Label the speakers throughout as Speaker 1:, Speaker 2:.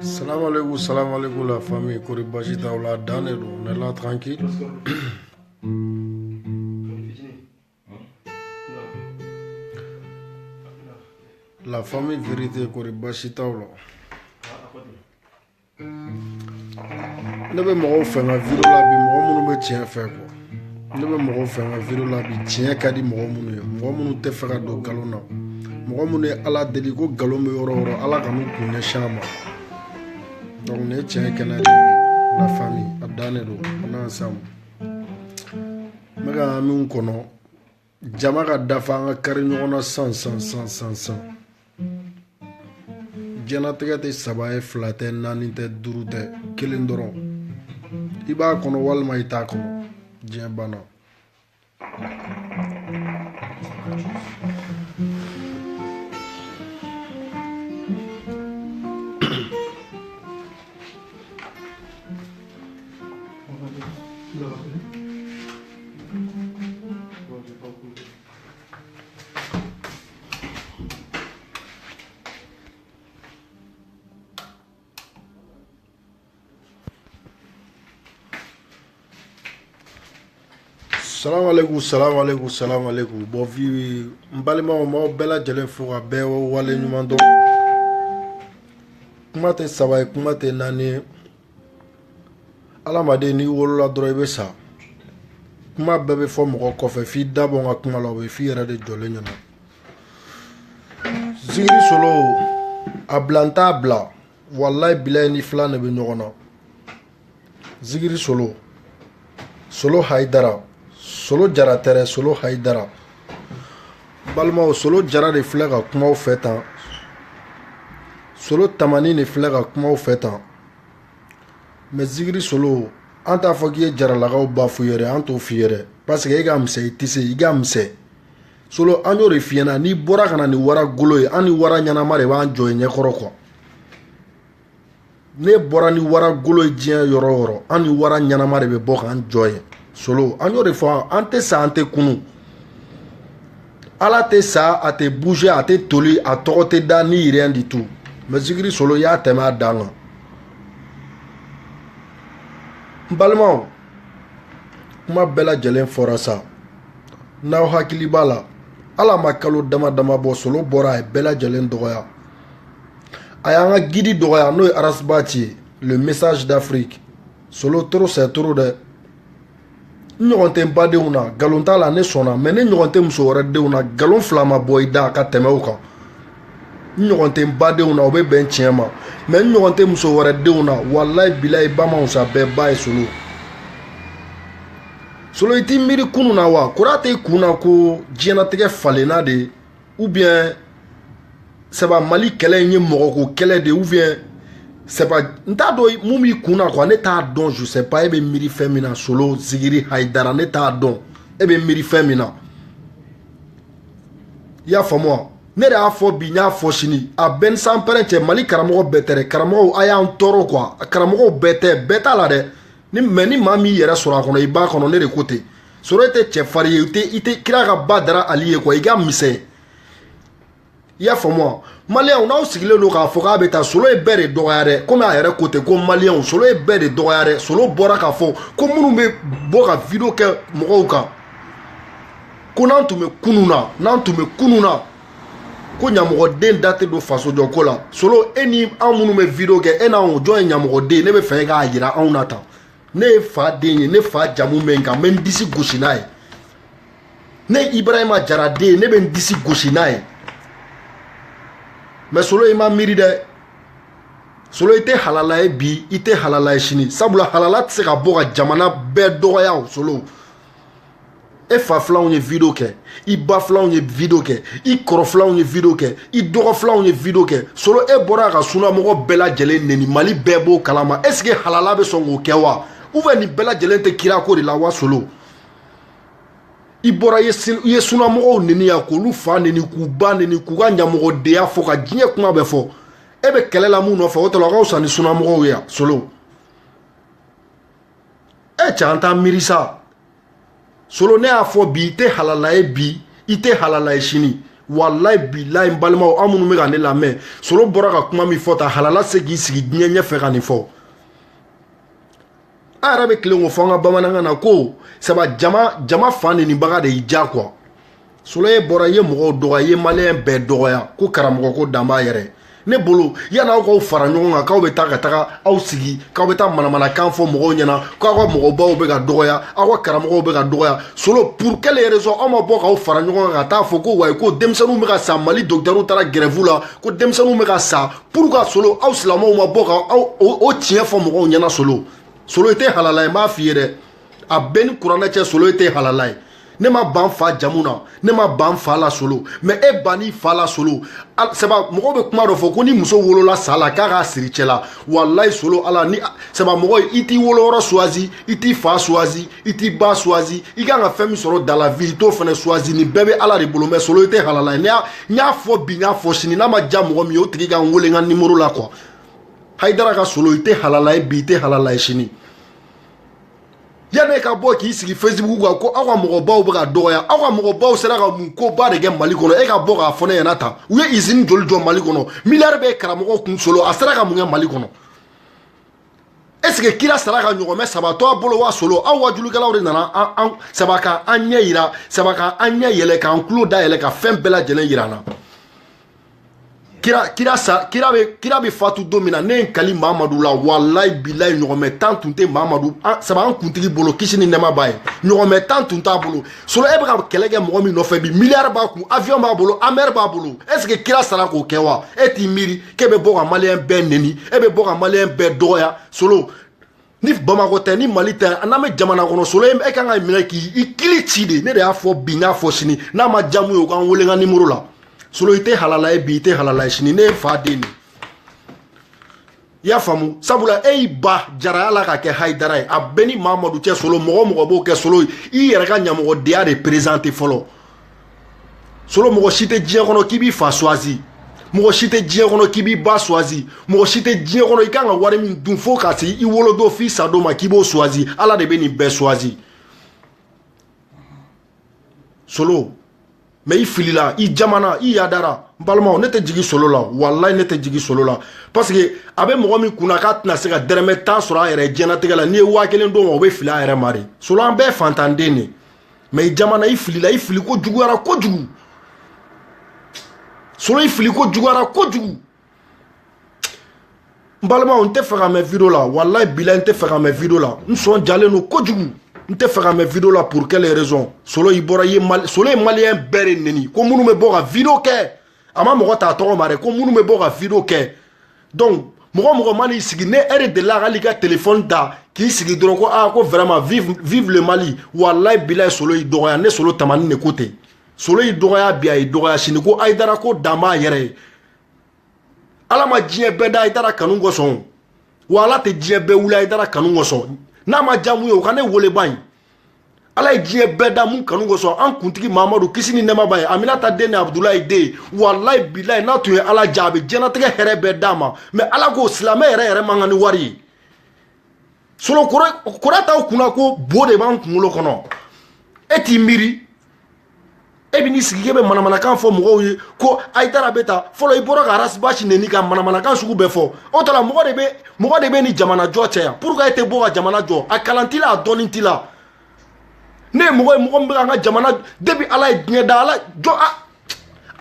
Speaker 1: Salam alaikum, salam alaikum la famille, kori basi t'aw la, dan de don, on est là tranquille. La famille vérité, kori basi t'aw la. Ne bɛ mɔgɔw fɛ n ka video la bi mɔgɔ minnu bɛ tiɲɛ fɛ quoi. ne bɛ mɔgɔ fɛ n ka video la bi tiɲɛ ka di mɔgɔ minnu ye mɔgɔ minnu tɛ fɛ ka don nkalon na mɔgɔ minnu ye ala deli ko nkalon bɛ yɔrɔ o yɔrɔ ala kan'u kun ɲɛsin a ma donc ne tiɲɛ kɛnɛ de la famille a dan de don on est ensemble n bɛ ka min kɔnɔ jama ka dafa an ka kari ɲɔgɔn na san san san san san diɲɛnatigɛ tɛ saba ye fila tɛ naani tɛ duuru tɛ kelen dɔrɔn i b'a kɔnɔ walima i t'a kɔnɔ diɲɛ banna salamu aleykum salamu aleykum salamu aleykum bɔn vi n balimaw m'aw bɛɛ lajɛlen fo ka bɛɛ wale ɲuman dɔn kuma tɛ saba ye kuma tɛ naani ye adamaden n'i wolola dɔrɔn i bɛ sa kuma bɛɛ bɛ fɔ mɔgɔ kɔfɛ f'i da bɔ n ka kuma la o bɛ f'i yɛrɛ de jɔlen ɲɛna zikiri solo a bila n t'a bila walayi bilayi n'i fila de bɛ ɲɔgɔn na zikiri solo solo hayidara solo jara tɛ dɛ solo hayidara balimaw solo jara de filɛ ka kuma aw fɛ tan solo tamani de filɛ ka kuma aw fɛ tan mɛ zikiri solo an t'a fɔ k'i ye jaralakaw ba f'u ye dɛ an t'o f'i ye dɛ paseke e ka misɛn i tɛ se i ka misɛn solo an y'o de f'i ɲɛna n'i bɔra ka na ni wara golo ye an ni wara ɲɛnama de b'an jɔ i ɲɛkɔrɔ quoi n'e bɔra ni wara golo ye diɲɛ yɔrɔ o yɔrɔ an ni wara ɲɛnama de bɛ bɔ k'an jɔ yen solo an y'o de fɔ an tɛ sa an tɛ kunun ala tɛ sa a tɛ bouger a tɛ toli a tɔgɔ tɛ da ni rien du tout mais zikiri solo y'a tɛmɛ a dan kan n balimaw kuma bɛɛ lajɛlen fɔra sa n'aw hakili b'a la hali a ma kalo dama dama bɔ solo bɔra a ye bɛɛ lajɛlen dɔgɔya a y'an ka guide dɔgɔya n'o ye arasibati ye le message d'afrique solo trop c'est trop dɛ n ɲɔgɔn tɛ n badenw na nkalon t'a la ne sɔnna mais ne ɲɔgɔn tɛ muso wɛrɛ denw na nkalon fila ma bɔ i da ka tɛmɛ o kan n ɲɔgɔn tɛ n badenw na o bɛ bɛn tiɲɛ ma mais n ɲɔgɔn tɛ muso wɛrɛ denw na walayi bilayi ba ma wusa bɛɛ ba ye solo solo i t'i miiri kunun na wa kura tɛ i kun na ko diɲɛnatigɛ falenna de ou bien c'est pas mali kɛlɛ in ye mɔgɔko kɛlɛ de ou bien c'est pas n t'a dɔn mun b'i kun na quoi ne t'a dɔn je sais pas e bɛ miiri fɛn min na solo zigiri hayidara ne t'a dɔn e bɛ miiri fɛn min na i y'a faamu wa ne de y'a fɔ bi n y'a fɔ sini a bɛ n ni sanpɛrɛn cɛ mali karamɔgɔ bɛɛ tɛ dɛ karamɔgɔw a y'an tɔɔrɔ quoi karamɔgɔw bɛɛ tɛ bɛɛ t'a la dɛ mais ni maa min y'i yɛrɛ sɔrɔ a kɔnɔ i b'a kɔnɔ ne de ko ten solo e tɛ cɛfarin ye i tɛ kira ka badara ali ye quoi i ka misɛn i y'a faamu wa maliyɛnw n'aw sigilen don k'a fɔ k'a bɛ taa solo ye bɛɛ de dɔgɔya dɛ komi a yɛrɛ ko ten ko maliyɛnw solo ye bɛɛ de dɔgɔya dɛ solo bɔra k'a fɔ ko minnu bɛ bɔ ka video kɛ mɔgɔw kan ko n'an tun bɛ kunun na n'an tun bɛ kunun na ko ɲamɔgɔden da tɛ don fasojɔko la solo e ni anw minnu bɛ video kɛ e n'anw jɔn ye ɲamɔgɔden ye ne bɛ fɛ e k'a jira anw na tan ne ye fa den ye ne fa jamu bɛ n kan n bɛ n disi gosi n'a ye ne ye ibrahima jara den ye ne bɛ n disi gosi n'a ye mais solo i ma miiri dɛ solo i tɛ halala ye bi i tɛ halala ye sini sabula halala tɛ se ka bɔ ka jamana bɛɛ dɔgɔya o solo e fa filanw ye video kɛ i ba filanw ye video kɛ i kɔrɔ filanw ye video kɛ i dɔgɔ filanw ye video kɛ solo e bɔra ka sunamɔgɔ bɛɛ lajɛlen neni mali bɛɛ b'o kalama est ce que halala bɛ sɔn k'o kɛ wa ou bien nin bɛɛ lajɛlen tɛ kira ko de la wa solo i bɔra i ye sunamɔgɔw neni yan k'olu fa neni k'u ba neni k'u ka ɲamɔgɔdenya fɔ ka diɲɛ kuma bɛɛ fɔ e bɛ kɛlɛ la mun nɔfɛ o tɔlɔ ka fisa ni sunamɔgɔw ye yan solo e cɛ an t'an miiri sa solo ne y'a fɔ bi i tɛ halala ye bi i tɛ halala ye sini walayi bilayi n balimaw aw minnu bɛ ka ne lamɛn solo bɔra ka kuma min fɔ tan halala se k'i sigi diɲɛ ɲɛfɛ ka nin fɔ an yɛrɛ bɛ tilen k'o fɔ an ka bamanankan na ko saba jama jama fa nenibaga de y'i diya quoi solo e bɔra i ye mɔgɔw dɔgɔya i ye maliyɛn bɛɛ dɔgɔya ko karamɔgɔ ko dan b'a yɛrɛ ne bolo yanni aw k'aw fara ɲɔgɔn kan k'aw bɛ taa ka taga aw sigi k'aw bɛ taa manamanakan fɔ mɔgɔw ɲɛna k'aw ka mɔgɔbaw bɛ ka dɔgɔya aw ka karamɔgɔw bɛ ka dɔgɔya solo pour quelle raison aw ma bɔ k'aw fara ɲɔgɔn kan ka taa fɔ ko wayi ko denmisɛnninw bɛ ka sa mali docteurw taara grève la ko denmisɛnninw bɛ ka sa pourquoi solo aw silamɛw ma bɔ ka o tiɲɛ fɔ mɔgɔw ɲɛna solo solo i tɛ halala ye n b'a f'i ye dɛ a b'e ni kuranɛ cɛ solo e tɛ halala ye ne ma ban fa jamu na ne ma ban fa la solo mais e bann'i fa la solo saba mɔgɔw bɛ kuma dɔ fɔ ko ni muso wolola sa la k'a k'a siri cɛ la walayi solo ala ni saba mɔgɔ i t'i woloyɔrɔ suwazi i t'i fa suwazi i t'i ba suwazi i kan ka fɛn min sɔrɔ dans la vie i t'o fana suwazi nin bɛɛ bɛ ala de bolo mais solo i tɛ halala ye n y'a fɔ bi n y'a fɔ sini n'a ma diya mɔgɔ min ye o tigi ka n wele n ka nimoro la quoi hayidara ka solo i tɛ halala ye bi i tɛ halala ye sini yanni e ka bɔ k'i sigi facebook kan ko aw ka mɔgɔbaw bɛ ka dɔgɔya aw ka mɔgɔbaw sera ka mun koba de kɛ mali kɔnɔ e ka bɔ k'a fɔ ne ɲɛna tan u ye izini joli jɔ mali kɔnɔ miliyari bɛ karamɔgɔ kun solo a sera ka mun kɛ mali kɔnɔ est ce que kira sara ka ɲɔgɔnmɛ saba to a bolo wa solo aw wajulikɛlaw de nana an saba ka an ɲɛ yira saba ka an ɲɛ yɛlɛ k'an tulo da yɛlɛ ka fɛn bɛɛ lajɛlen yira an na kira kira sa kira bɛ kira bɛ fatu don min na ne ye n kali mamadu la walayi bilayi ɲɔgɔnmɛ tan tun tɛ mamadu an saba an kuntigi bolo kisi ni nɛɛma b'a ye ɲɔgɔnmɛ tan tun t'a bolo solo e bɛ ka kɛlɛ kɛ mɔgɔ min nɔfɛ bi miliyari b'a kun avion b'a bolo amɛri b'a bolo est ce que kira sara k'o kɛ wa e t'i miiri k'e bɛ bɔ ka maliyɛn bɛɛ neni e bɛ bɔ ka maliyɛn bɛɛ dɔgɔya solo ni bamakɔ tɛ ni mali tɛ n'an bɛ jamana kɔnɔ solo e kan ka minɛ k'i i kili ci dɛ ne de y'a fɔ bi n y'a fɔ sini n'a ma diya min ye o ka n wele n ka nimoro la solo i tɛ halala ye bi i tɛ halala ye sini ne ye fa den de i y'a faamu sabula e y'i ba jaraya la ka kɛ hayidara ye a b'e ni mamadu cɛ solo mɔgɔ o mɔgɔ b'o kɛ solo ye i yɛrɛ ka ɲamɔgɔdenya de perezante fɔlɔ solo mɔgɔ si tɛ diɲɛ kɔnɔ k'i b'i fa suwazi mɔgɔ si tɛ diɲɛ kɔnɔ k'i b'i ba suwazi mɔgɔ si tɛ diɲɛ kɔnɔ i kan ka wari min dun fo ka se i wolodon f'i sa don ma k'i b'o suwazi ala de bɛ nin bɛɛ suwazi solo mais i filila i jamana i yadara n balimaw ne tɛ jigi solo la walayi ne tɛ jigi solo la parce que a bɛ mɔgɔ min kunna k'a tɛna se ka dɛrɛmɛ tan sɔrɔ a yɛrɛ diɲɛnatigɛ la n'i ye waa kelen d'o ma o bɛ fili a yɛrɛ ma de solo an bɛɛ ye fantanden de ye mais i jamana i filila i fili ko juguyara kojugu solo i fili ko juguyara kojugu n balimaw n tɛ fɛ ka mɛn video la walayi bila n tɛ fɛ ka mɛn video la n sɔn jalen don kojugu n tɛ fɛ ka mɛn video la pour quelle raison solo i bɔra i ye mali solo ye maliyɛn bɛɛ de neni ko minnu bɛ bɔ ka video kɛ a ma mɔgɔ t'a tɔgɔ ma dɛ ko minnu bɛ bɔ ka video kɛ donc mɔgɔ o mɔgɔ man'i sigi n'e de delila hali ka telefɔni ta k'i sigi dɔrɔn ko aa ko vraiment vive vive le mali walayi bilayi solo y'i dɔgɔya ne solo tamani de ko ten solo y'i dɔgɔya bi a y'i dɔgɔya sini ko hayidara ko dan b'a yɛrɛ ye ala ma diɲɛ bɛɛ da hayidara kanu kosɔn wa ala tɛ diɲɛ bɛɛ wuli hayidara kanu kosɔn n'a ma diya min ye o ka ne wele bani ala ye diɲɛ bɛɛ da mun kanu kosɔn an kuntigi mamadu kisi ni nɛma b'a ye aminata den ni abudulayi den walayi bilayi n'a tun ye ala diya a bɛ diɲɛnatigɛ hɛrɛ bɛɛ d'a ma mɛ ala ko silamɛ yɛrɛ yɛrɛ man kan ni wari ye solo kura t'aw kunna ko bo de b'an kunkolo kɔnɔ e t'i miiri e bɛ n'i sigi k'e bɛ manamanakan fɔ mɔgɔw ye ko hayidara bɛ ta fɔlɔ i bɔra ka arasibasi neni ka manamanakan sugu bɛɛ fɔ o t'a la mɔgɔ de bɛ mɔgɔ de bɛ nin jamana jɔ cɛ yan purukuwa e tɛ bɔ ka jamana jɔ a kalan t'i la a dɔnni t'i la ne ye mɔgɔ ye mɔgɔ min bɛ ka an ka jamana depi ala ye diɲɛ da ala jɔ a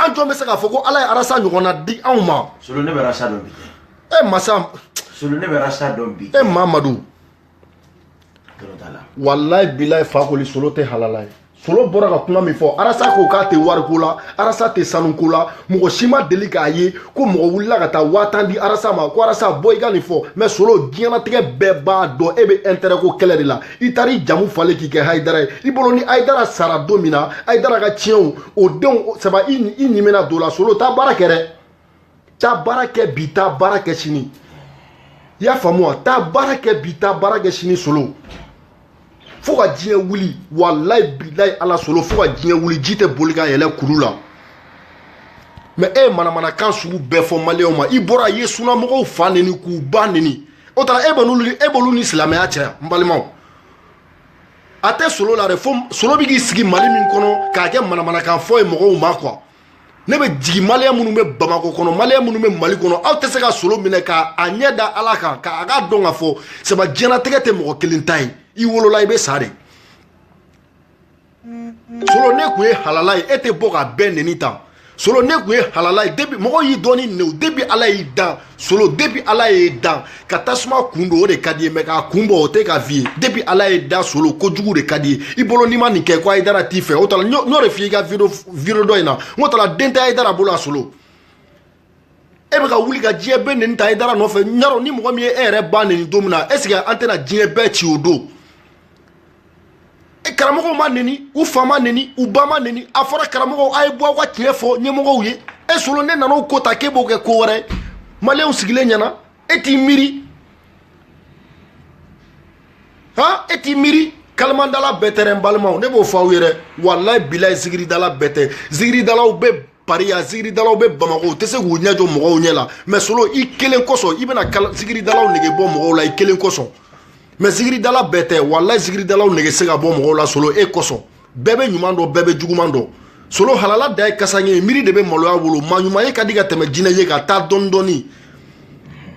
Speaker 1: an jɔn bɛ se k'a fɔ ko ala ye arasa ɲɔgɔnna di anw ma. solo ne bɛ arasa
Speaker 2: dɔn bi. e masa.
Speaker 1: solo ne bɛ
Speaker 2: arasa dɔn bi. e mamadu.
Speaker 1: walayi bilayi fakoli solo tɛ halala ye solo bɔra ka kuma min fɔ arasa ko k'a tɛ wariko la arasa tɛ sanuko la mɔgɔ si ma deli k'a ye ko mɔgɔ wulila ka taa waa tan di arasa ma ko arasa bɔ i ka nin fɔ mɛ solo diɲɛnatigɛ bɛɛ b'a dɔn e bɛ intɛrɛ ko kɛlɛ de la i taara i jamu falen k'i kɛ hayidara ye i bolo ni hayidara sara don min na hayidara ka tiɲɛw o denw saba i ɲimina don la solo taa baara kɛ dɛ taa baara kɛ bi taa baara kɛ sini i y'a faamu wa taa baara kɛ bi taa baara kɛ sini solo fo ka diɲɛ wuli walayi bilayi ala solo fo ka diɲɛ wuli ji tɛ boli ka yɛlɛ kulu la mɛ e ye manamanakan sugu bɛɛ fɔ maliyɛnw ma i bɔra i ye sunamɔgɔw fa neni k'u ba neni o t'a ra e b'olu e b'olu ni silamɛya cɛ n balimaw a tɛ solo la dɛ fo solo bɛ k'i sigi mali min kɔnɔ k'a kɛ manamanakan fɔ ye mɔgɔw ma kuwa ne bɛ jigin maliyɛn minnu bɛ bamakɔ kɔnɔ maliyɛn minnu bɛ mali kɔnɔ aw tɛ se ka solo minɛ ka a ɲɛ da ala kan ka a k'a dɔn k'a fɔ saba diɲɛnatigɛ tɛ mɔgɔ kelen ta ye i wolola i bɛ sa de solo n'e tun ye halala ye e tɛ bɔ ka bɛɛ neni tan solo n'e tun ye halala ye depi mɔgɔ y'i dɔn ni nɛw depi ala y'i dan solo depuis ala y'i dan ka tasuma kun don o de ka d'i ye mɛ k'a kun bɔ o tɛ ka f'i ye depuis ala y'i da solo kojugu de ka d'i ye i bolo n'i ma nin kɛ ko hayidara t'i fɛ o t'a la n y'o de f'i ye i ka video video dɔ in na n k'o t'a la den tɛ hayidara bolo a solo e bɛ ka wuli ka diɲɛ bɛɛ neni tan hayidara nɔfɛ n y'a dɔn ni mɔgɔ min ye e yɛrɛ ba neni don min na est ce que an tɛna diɲɛ bɛɛ ci o don karamɔgɔw ma neni u fa ma neni u ba ma neni a fɔra karamɔgɔw a ye bɔ aw ka tiɲɛ fɔ ɲɛmɔgɔw ye e solo ne nana o ko ta k'e b'o kɛ ko wɛrɛ maliyɛnw sigilen ɲɛna e t'i miiri han e t'i miiri kalimandala bɛɛ tɛ dɛ n balimaw ne b'o fɔ aw ye dɛ walayi bilayi zikiridala bɛɛ tɛ zikiridalaw bɛ pari yan zikiridalaw bɛ bamakɔ u tɛ se k'u ɲɛ jɔ mɔgɔw ɲɛ la mɛ solo i kelen kosɔn i bɛna zikiridalaw nege bɔ mɔgɔw la i kelen kosɔn mɛ zikiridala bɛɛ tɛ walayi zikiridalaw nege se ka bɔ mɔgɔw la solo e kosɔn bɛɛ bɛ ɲuman dɔn bɛɛ bɛ juguman dɔn solo halala dan ye kasanke ye miiri de bɛ maloya wolo maa ɲuman ye ka di ka tɛmɛ jinɛ ye kan taa dɔɔni dɔɔni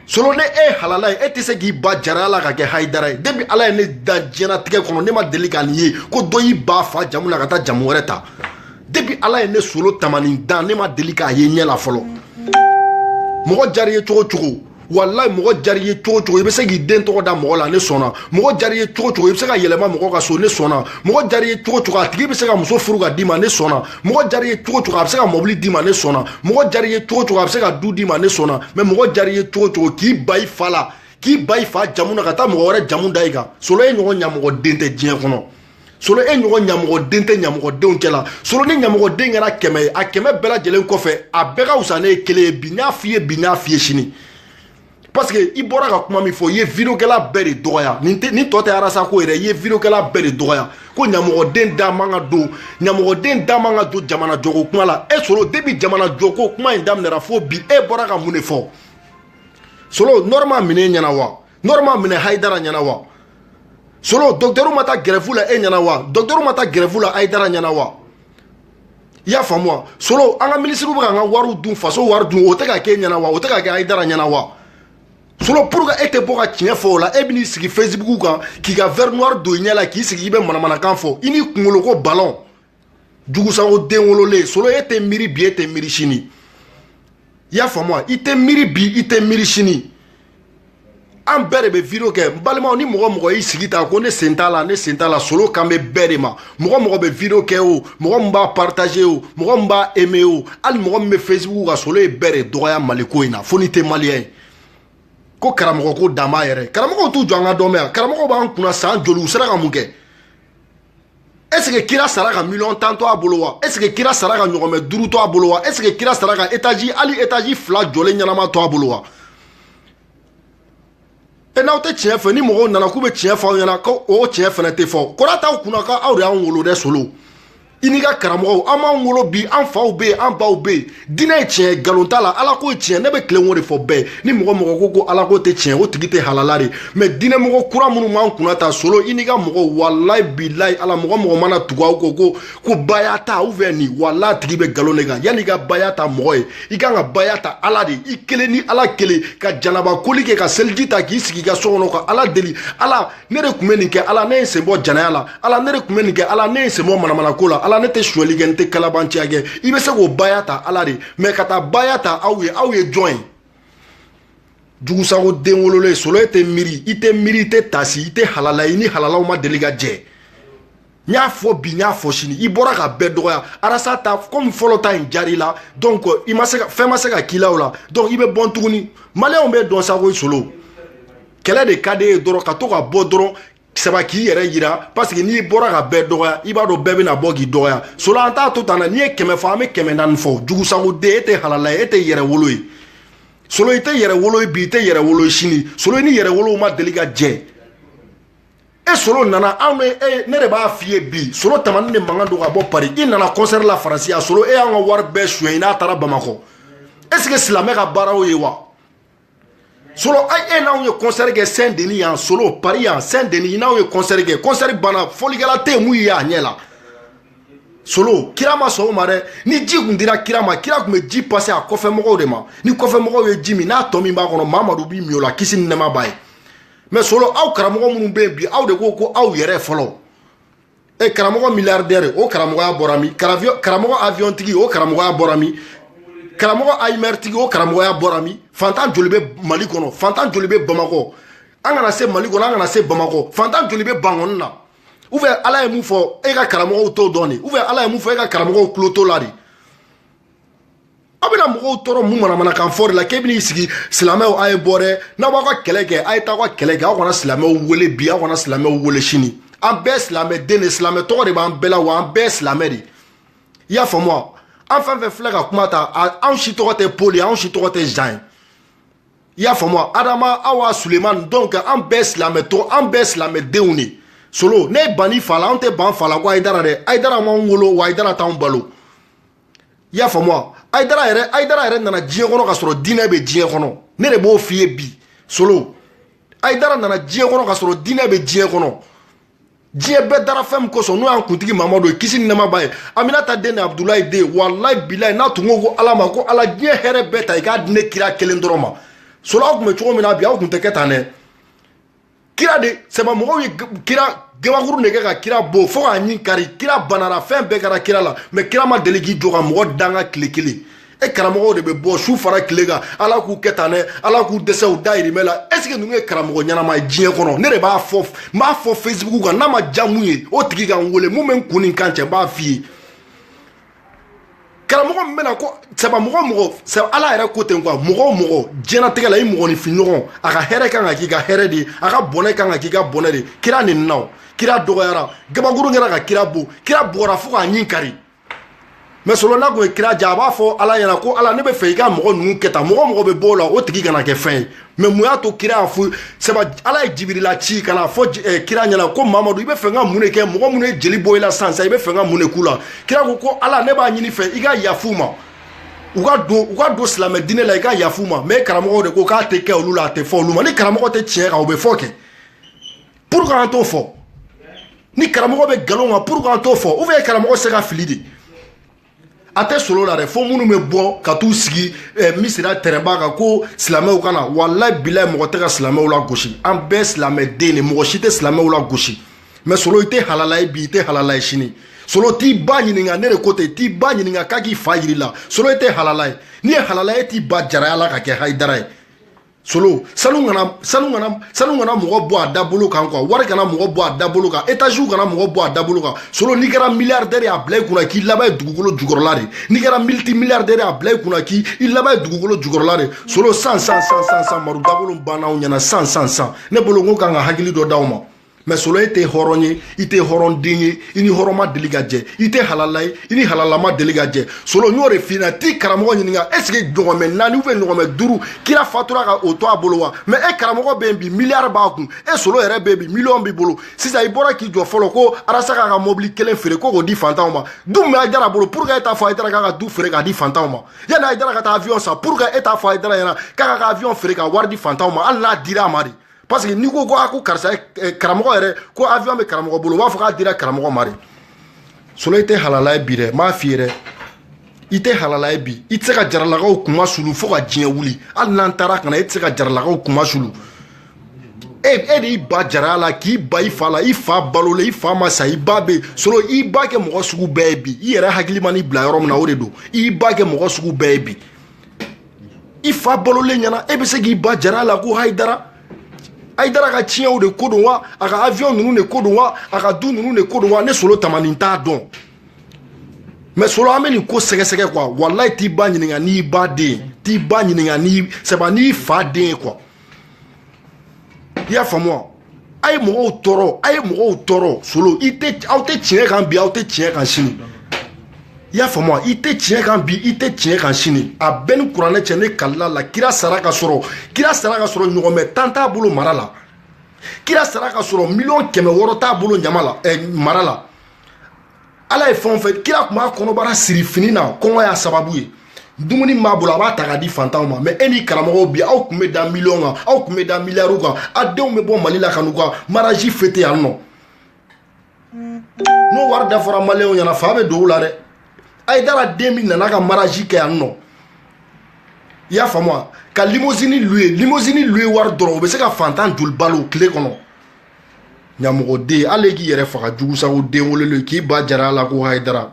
Speaker 1: solo ne e halala ye e tɛ se k'i ban jara la ka kɛ hayidara ye depi ala ye ne da diɲɛnatigɛ kɔnɔ ne ma deli ka nin ye ko dɔ y'i ban fa jamu la ka taa jamu wɛrɛ ta depi ala ye ne solo tamanin dan ne ma deli k'a ye ɲɛ la fɔlɔ mɔgɔ diyar'i ye cogo cogo walayi mɔgɔ diyar'i ye cogo cogo i bɛ se k'i den tɔgɔ da mɔgɔ la ne sɔnna mɔgɔ diyar'i ye cogo cogo i bɛ se ka yɛlɛma mɔgɔ ka so ne sɔnna mɔgɔ diyar'i ye cogo cogo a tigi bɛ se ka muso furu ka d'i ma ne sɔnna mɔgɔ diyar'i ye cogo cogo a bɛ se ka mɔbili d'i ma ne sɔnna mɔgɔ diyar'i ye cogo cogo a bɛ se ka du d'i ma ne sɔnna mɛ mɔgɔ diyar'i ye cogo cogo k'i ban i fa la k'i ban i fa jamu na ka taa mɔgɔ wɛrɛ jamu da i kan solo e ɲɔgɔn ɲamɔgɔden tɛ diɲɛ kɔnɔ solo e ɲɔgɔn ɲamɔgɔden tɛ ɲamɔgɔdenw cɛla solo ni ɲamɔgɔden kɛra kɛmɛ ye a kɛmɛ bɛɛ lajɛlen kɔfɛ a bɛɛ ka wusa ni e kelen ye bi n y'a f'i ye bi n y'a f'i ye sini parce que i bɔra ka kuma min fɔ i ye videokɛla bɛɛ de dɔgɔya nin tɛ nin tɔ tɛ arasa ko yɛrɛ i ye videokɛla bɛɛ de dɔgɔya ko ɲamɔgɔden da man ka don ɲamɔgɔden da man ka don jamana jɔko kuma la e solo depi jamana jɔko kuma in daminɛra fo bi e bɔra ka mun de fɔ solo nɔrɔ ma minɛ e ɲɛna wa nɔrɔ ma minɛ hayidara ɲɛna wa solo dɔkitɛriw ma taa gɛrɛfu la e ɲɛna wa dɔkitɛriw ma taa gɛrɛfu la hayidara ɲɛna wa i y'a faamu wa solo an ka minisiriw bɛ ka an ka wariw dun faso wari dun o tɛ ka k'e ɲɛna wa o tɛ ka kɛ hayidara ɲɛna wa solo pourquoi e tɛ bɔ ka tiɲɛ fɔ o la e bɛ n'i sigi facebook kan k'i ka verre noir don i ɲɛ la k'i sigi i bɛ manamanakan fɔ i n'i kunkolo ko balon jugusago den wololen solo e tɛ miiri bi e tɛ miiri sini i y'a faamu wa i tɛ miiri bi i tɛ miiri sini an bɛɛ de bɛ video kɛ n balimaw ni mɔgɔ mɔgɔ y'i sigi ta ko ne sen t'a la ne sen t'a la solo kan bɛ bɛɛ de ma mɔgɔ mɔgɔ bɛ video kɛ o mɔgɔ min b'a partager o mɔgɔ min b'a aimer o hali mɔgɔ min bɛ facebook kan solo ye bɛɛ de dɔgɔya mali ko in na fo n'i tɛ maliyɛn ye ko karamɔgɔ ko dan b'a yɛrɛ karamɔgɔw t'u jɔ an ka dɔ mɛn yan karamɔgɔw b'an kunna san joli u sera ka mun kɛ est ce que kira sara ka miliyɔn tan to a bolo wa est ce que kira sara ka ɲɔgɔmɛ duuru to a bolo wa est ce que kira sara ka etaji hali etaji fila jɔlen ɲɛnama to a bolo wa e n'aw tɛ tiɲɛ fɛ ni mɔgɔw nana k'u bɛ tiɲɛ fɔ aw ɲɛna ko o tiɲɛ fana tɛ fɔ kɔrɔ t'aw kunna ko aw de y'anw wolo dɛ solo i n'i ka karamɔgɔw aw m'anw wolo bi an faw bɛ yen an baw bɛ yen diinɛ ye tiɲɛ nkalon t'a la ala ko ye tiɲɛ ne bɛ tilen o de fɔ bɛɛ ni mɔgɔ mɔgɔ ko ko ala ko tɛ tiɲɛ o tigi tɛ halala de mɛ diinɛ mɔgɔ kura minnu b'an kunna ta solo i n'i ka mɔgɔw walayi bilayi ala mɔgɔ mɔgɔ mana tugu aw kɔ ko ko baya ta u fɛ nin walayi a tigi bɛ nkalon de kan yanni i ka baya ta mɔgɔ ye i kan ka baya ta ala de i kelen ni ala kelen ka janaba koli kɛ ka seliji ta k'i sigi i ka so kɔnɔ ka ala deli ala ne de tun bɛ nin kɛ ala ne ye sen bɔ janaya la ala ne de tun bɛ nin kɛ ala ne ye sen bɔ manamanako la ala ne tɛ suɲɛli kɛ n tɛ kalabanciya kɛ i bɛ se k'o baya ta ala de mɛ ka taa baya ta aw ye aw ye jɔn ye jugusago den wololen solo e tɛ miiri i tɛ miiri i tɛ taasi i tɛ halala i ni halalaw ma deli ka jɛ n y'a fɔ bi n y'a fɔ sini i bɔra ka bɛɛ dɔgɔya arasa ta komi fɔlɔ ta in diyar'i la donc i ma se ka fɛn ma se ka k'i la o la donc i bɛ bɔ tuguni maliyɛnw b'a dɔn sa ko solo kɛlɛ de ka d'e ye dɔrɔn ka to ka bɔ dɔrɔn saba k'i yɛrɛ yira paseke n'i bɔra ka bɛɛ dɔgɔya i b'a dɔn bɛɛ bɛna bɔ k'i dɔgɔya solo an t'a to tan na n'i ye kɛmɛ fɔ an bɛ kɛmɛ naani fɔ jugusagoden e tɛ halala ye e tɛ yɛrɛ wolo ye solo i tɛ yɛrɛ wolo ye bi i tɛ yɛrɛ wolo ye sini solo i ni yɛrɛ wolow ma deli ka jɛ e solo nana anw bɛ e ne de b'a f'i ye bi solo tamani de mankan don ka bɔ pari i nana kɔnsɛri la faransi a solo e y'an ka wari bɛɛ suɲɛ i n'a taara bamakɔ est ce que silamɛ ka baara o ye wa solo e n'anw ye kɔnsɛri kɛ sɛn deni yan solo pari yan sɛn deni n'anw ye kɔnsɛri kɛ kɔnsɛri banna fɔlikɛla tɛ mugu ye a ɲɛ la solo kira ma sɔn o ma dɛ ni ji tun dira kira ma kira tun bɛ ji pase a kɔfɛ mɔgɔw de ma ni kɔfɛ mɔgɔw ye ji min n'a tɔ min b'a kɔnɔ mamadu b'i min o la kisi ni nɛɛma b'a ye mɛ solo aw karamɔgɔ minnu bɛ yen bi aw de ko ko aw yɛrɛ fɔlɔ e eh, karamɔgɔ milliardaire o karamɔgɔya bɔra min karamɔgɔ avion tigi o karamɔgɔya bɔra min karamɔgɔ hummer tigi o karamɔgɔya bɔra min fantan joli bɛ mali kɔnɔ fantan joli bɛ bamakɔ an kana se mali kɔnɔ an kana se bamakɔ fantan joli bɛ bankɔni na ou bien ala ye mun fɔ e ka karamɔgɔw t'o dɔn de ou bien ala ye mun fɔ e ka karamɔgɔw tulo t'o la de aw bɛna mɔgɔw tɔɔrɔ mun manamanakan fɔ de la k'e bɛn'i sigi silamɛw a ye bɔ dɛ n'aw b'aw ka kɛlɛ kɛ a ye taa aw ka kɛlɛ kɛ aw kana silamɛw wele bi aw kana silamɛw wele sini an bɛɛ silamɛ den de silamɛ tɔgɔ de b'an bɛɛ la wa an bɛɛ silamɛ de i y'a faamu wa an fɛn fɛn filɛ ka kuma ta anw si tɔgɔ tɛ paul ye anw si tɔgɔ tɛ jean ye i y'a faamu wa adama awa sulemani donc an bɛɛ silamɛ tɔgɔ an bɛɛ silamɛ denw de solo ne tɛ ban ne fa la anw tɛ ban fa la ko ayidara dɛ ayidara m'anw wolo wa ayidara t'anw balo i y'a faamu wa ayidara yɛrɛ nana diɲɛ kɔnɔ k'a sɔrɔ diinɛ bɛ diɲɛ kɔnɔ ne de b'o f'i ye bi solo ayidara nana diɲɛ kɔnɔ k'a sɔrɔ diinɛ bɛ diɲɛ kɔnɔ diɲɛ bɛɛ dara fɛn min kosɔn n'o y'an kuntigi mamadu ye kisi ni nɛɛma b'a ye aminata den ni abudulayi den walayi bilayi n'a tun ko ala ma ko ala diɲɛ hɛrɛ bɛɛ ta i k'a di ne kira kelen dɔrɔn ma solo aw tun bɛ cogo min na bi aw tun tɛ kɛ tan dɛ kira de sɛgɛnna mɔgɔw ye kira gabakuru de kɛ ka kira bon fo k'a ɲin kari kira banara fɛn bɛɛ kɛra kira la mɛ kira ma deli k'i jɔ ka mɔgɔ danga tile kelen e karamɔgɔw de bɛ bɔ su fara tile kan ala k'u kɛ tan dɛ ala k'u dɛsɛ u dayirimɛ la est ce que ninnu ye karamɔgɔ ɲɛnama ye diɲɛ kɔnɔ ne de b'a fɔ n b'a fɔ facebook kan n'a ma diya min ye o tigi ka n wele min bɛ n kun ni n kan cɛ n b'a f'i ye karamɔgɔ min bɛna ko sabu mɔgɔ o mɔgɔ sabu ala yɛrɛ ko ten quoi mɔgɔ o mɔgɔ diɲɛnatigɛ la i mɔgɔninfinɲɔgɔn a ka hɛrɛ kan ka k'i ka hɛrɛ de ye a ka bɔnɛ kan ka k'i ka bɔnɛ de ye kira nenina kira dɔgɔyara gabakuru kɛra ka kira bon kira bora fo k'a ɲin kari mais solo n'a kun ye kira diya a b'a fɔ ala ɲɛna ko ala ne bɛ fɛ i ka mɔgɔ ninnu kɛ tan mɔgɔ o mɔgɔ bɛ bɔ o la o tigi kana kɛ fɛn ye mais mun y'a to kira y'a fɔ sabu ala ye jibirila ci ka na fɔ eh, kira ɲɛna ko mamadu i bɛ fɛ n ka mun de kɛ mɔgɔ minnu ye jeli bɔ i la sisan sisan i bɛ fɛ n ka mun de k'u la kira ko ko ala ne b'a ɲini i fɛ i ka yaf'u ma u ka don u ka don silamɛ diinɛ la i ka yaf'u ma mais karamɔgɔw de ko k'a tɛ kɛ olu la a tɛ fɔ olu ma ni karamɔgɔ tɛ tiɲɛ kan o bɛ fɔ kɛ pourquoi an t'o fɔ ni karamɔgɔ bɛ nkalon kan pourquoi an t'o fɔ ou bien karamɔgɔ tɛ se ka fili de a tɛ solo la dɛ fo minnu bɛ bɔ ka t'u sigi eh, misira tɛrɛnba kan ko silamɛw ka na walayi bilayi mɔgɔ tɛ ka silamɛw lagosi an bɛɛ silamɛ den de mɔgɔ si tɛ silamɛw lagosi mais solo i tɛ halala ye bi i tɛ halala ye sini solo t'i ba ɲininka ne de ko ten t'i ba ɲininka k'a k'i fa yira i la solo i tɛ halala ye n'i ye halala ye t'i ban jaraya la ka kɛ hayidara ye solo sanu kana sanu kana sanu kana mɔgɔ bɔ a dabolo kan quoi wari kana mɔgɔ bɔ a dabolo kan étage kana mɔgɔ bɔ a dabolo kan solo n'i kɛra milliardaire y'a bila i kunna k'i laban ye dugukolo jukɔrɔla de n'i kɛra multimilliardaire y'a bila i kunna k'i i laban ye dugukolo jukɔrɔla de solo san san san san san maru dabolo banna aw ɲɛna san san san ne bolo n ko kan ka hakili dɔ d'aw ma mais solo e tɛ hɔrɔn ye i tɛ hɔrɔn den ye i ni hɔrɔn ma deli ka jɛ i tɛ halala ye i ni halala ma deli ka jɛ solo n y'o de f'i ɲɛna t'i karamɔgɔ ɲininka est ce que ɲɔgɔnmɛ naani ou bien ɲɔgɔnmɛ duuru kira fatura ka o to a bolo wa mais e karamɔgɔ bɛ yen bi miliyari b'a kun e solo yɛrɛ bɛ yen bi miliyɔn b'i bolo sisan i bɔra k'i jɔ fɔlɔ ko arasa k'a ka mɔbili kelen feere ko k'o di fantanw ma du min bɛ hayidara bolo pourquoi e t'a fɔ hayidara k'a ka du feere k'a di fantanw ma yanni hayidara ka taa avion san pourquoi e t'a fɔ hayidara ɲɛna k'a ka ka avion feere ka wari di fantanw ma hali n'a dira a ma de parce que n'i ko ko a ko karisa eh, karamɔgɔ yɛrɛ ko avion bɛ karamɔgɔ bolo u b'a fɔ k'a dira karamɔgɔ ma de solo i tɛ halala ye bi dɛ n b'a f'i ye dɛ i tɛ halala ye bi i tɛ se ka jaralakaw kunmasuli fo ka diɲɛ wuli hali n'an taara ka na e tɛ se ka jaralakaw kunmasuli e e de y'i ban jaraya la k'i ban i fa la i fa balo la i fa ma sa i ba bɛ solo i ba kɛ mɔgɔ sugu bɛɛ ye bi i yɛrɛ hakili man'i bila yɔrɔ min na o de don i ba kɛ mɔgɔ sugu bɛɛ ye bi i fa balolen ɲɛna e bɛ se k'i ban jaraya la ko hayidara hayidara ka tiɲɛw de ko don wa a ka avion ninnu de ko don wa a ka du ninnu de ko don wa ne solo tamanin t'a dɔn mais solo an bɛ nin ko sɛgɛsɛgɛ quoi walayi t'i ba ɲininka n'i ba den t'i ba ɲininka n'i sɛba n'i fa den ye quoi i y'a faamu wa a ye mɔgɔw tɔɔrɔ a ye mɔgɔw tɔɔrɔ solo i tɛ aw tɛ tiɲɛ kan bi aw tɛ tiɲɛ kan sini i y'a faamu i tɛ tiɲɛ kan bi i tɛ tiɲɛ kan sini a bɛɛ ni kuranɛ cɛ ne kalila la kira sara ka sɔrɔ kira sara ka sɔrɔ ɲɔgɔnmɛ tan t'a bolo mara la kira sara ka sɔrɔ miliyɔn kɛmɛ wɔɔrɔ t'a bolo ɲama la ɛ eh, mara la ala ye fɛn o fɛn kira tun b'a kɔnɔbara siri fini na kɔngɔ y'a sababu ye dumuni min b'a bolo a b'a ta ka di fantanw ma mɛ e ni karamɔgɔw bi aw tun bɛ da miliyɔn kan aw tun bɛ da miliyariw kan a denw bɛ bɔ mali la ka n'u ka maraji fete yan nɔ n'o wari da fɔra maliyɛnw ɲɛna fa bɛ don u la dɛ hayidara den min nana ka maraji kɛ yan nɔ i y'a faamu wa ka limosini luwe limosini luwe wari dɔrɔn o bɛ se ka fantan joli balo tile kɔnɔ ɲamɔgɔden hali k'i yɛrɛ faga jugusago den wololen k'i ba jara a la ko hayidara